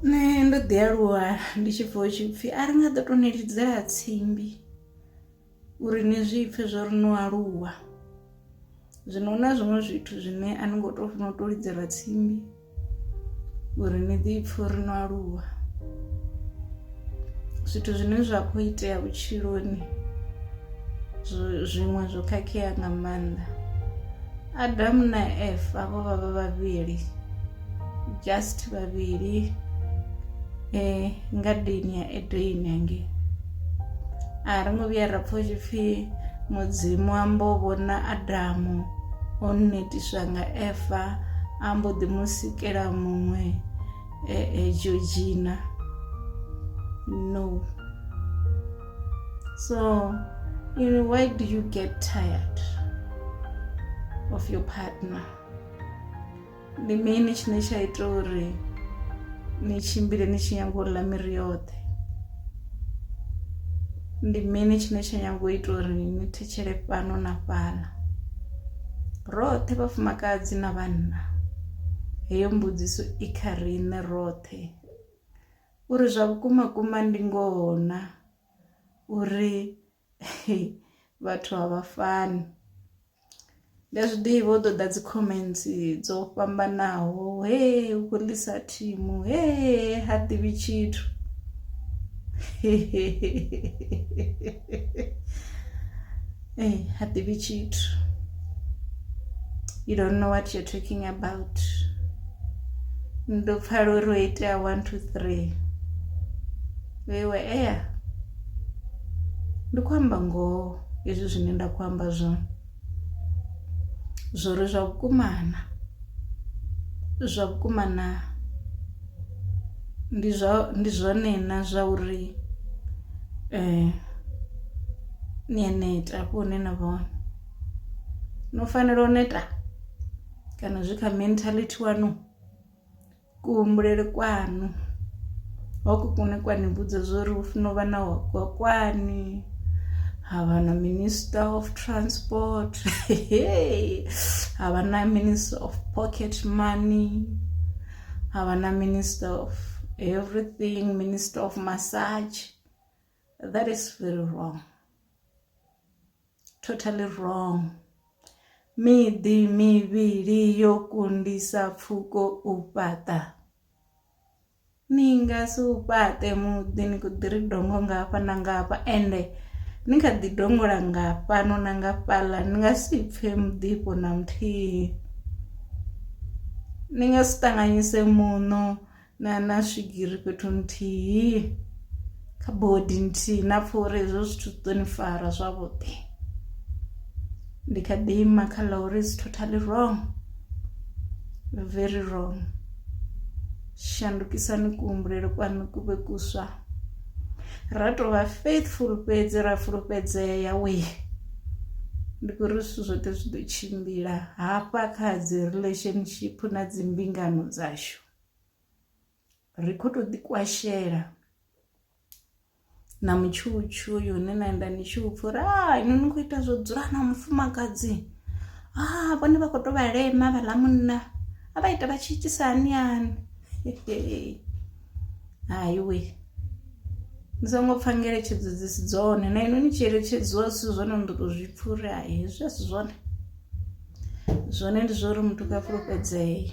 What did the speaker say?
nṋe ndo ḓi aluwa ndi tshi pfha hu tshi pfhi a ri nga ḓo to ni lidzela tsimbi uri ni zwi pfhe zwo ri no aluwa zwino hu na zwiṅwe zwithu zwine a ni ngo to funa u to lidzelwa tsimbi uri ni ḓi pfhe uri no aluwa zwithu zwine zwa kho itea vhutshiloni zwiṅwe zwo khakhea nga maanḓa adamu na efa vho vha vha vhavhili just vhavhili eh ngadeni ya edeni hangei a ri ngo vhuya ra pfha tshi pfhi mudzimu ambo vhona adamu o netiswa nga efa ambo ḓi mu sikela muṅwe e, e, georgina no so you know, why do you get tired of your partner ndi mini tshine tsha ita uri ni tshimbile ni tshi nyanga u ḽa miri yoṱhe ndi mini tshine tsha nyanga u ita uri ni thetshele fhano na fhala roṱhe vhafumakadzi na vhanna heyo mbudziso i kha riṋe roṱhe uri zwa vhukuma kuma ndi ngoho na uri vhathu a vha fani ndi a zwi ḓivha u ḓoḓa dzi comments dzo fhambanaho he u khou ḽisa thimu he ha ḓivhi tshithu ee ha ḓivhi tshithu you don't know what you're talking about ndo pfala uri ho itea one two three Iwe ea ndi khou amba ngoho hezwi zwine nda khou amba zwone zwori zwa vhukuma na zwa vhukuma na ndi zwa ndi zwone na zwa uri ni a neta hafho hune na vha hone no fanela u neta kana zwi kha mentality wanu. Kuhumbulele kwaṋu hoko kune kwa ni vhudza zwori hu funa uvha na hokwakwani havha na minister of transport havha na minister of pocket money havha na minister of everything minister of massage that is very wrong. Totally wrong. Miḓi mivhili yo kundisa pfuko u fhaṱa. Ni nga si u fhaṱe muḓi ni kho ḓi ri dongo nga hafha na nga hafha ende ni kha ḓi dongola nga fhano na nga fhaḽa ni nga si pfhe muḓifho na muthihi. Ni nga si ṱanganyise muṋo na na swigiri fhethu nthihi kha bodi nthihi na pfha uri hezwo zwithu zwi ḓo ni fara zwavhuḓi ndi kha ḓi ima kha ḽa uri is totally wrong very wrong shandukisani kuhumbulele kwanu ku vhe kuswa ra tou vha faithful fhedzi ra fulufhedzea wee ndi kho ri zwithu zwoṱhe zwi ḓo tshimbila hafha kha dzi relationship na dzi mbingano dzashu ri kho to ḓi kwashela na mutshutshu uyu une na enda ni tshi upfha uri a ino ni khou ita zwo dzula na mufumakadzi a vhone vha khou to vha lema vhaḽa munna a vha ita vha tshi itisa hani hani hayi we ni songo pfha ngeletshedzo dzi si dzone na ino ni tshi eletshedziwa zwithu zwone ni ḓo to zwi pfha uri hai hezwi a si zwone zwone ndi zwa uri muthu kha fulufhedzee .